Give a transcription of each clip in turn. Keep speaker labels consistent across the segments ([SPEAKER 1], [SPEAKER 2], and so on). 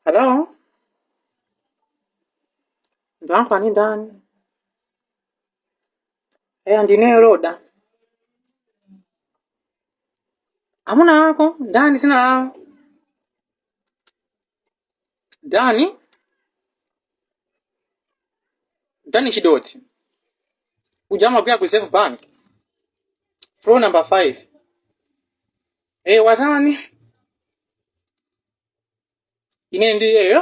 [SPEAKER 1] Hello? Ndamva ni ndani? Eya ndine Roda. Amuna ako ndani zina lawo? ndani ndani chidoti uja amagwira ku reserve bank floor number 5 eh watani ine ndi iyeyo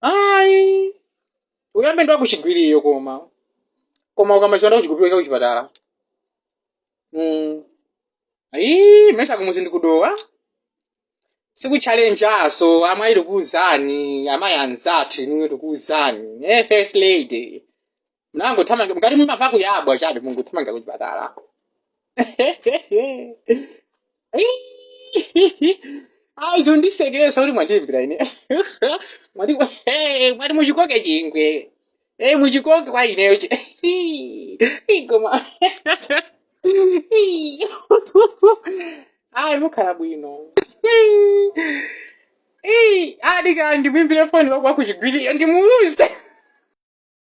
[SPEAKER 1] ayi uyambe ndi wakuchigwiriyo koma koma ukamachionda kuchigupirika kuchipatala mm. ayi mesa kumudzi ndi ku Dowa sikuchalenjanso amayi tikuuzani amayi anzathu inuyo tikuuzani eh, first lady munangothamanga mukati mumava kuyabwa chabe mungothamanga kuchipatala ayi zondisekeresa kuti mwandiimbira ine mwati eh, mwati muchikoke chingwe Eh, muchikoke kwa ineyo chi igoma ayi mukhala bwino Eh, adikandi mwimbire foni wakwa kuchigwiriyo ndimuuze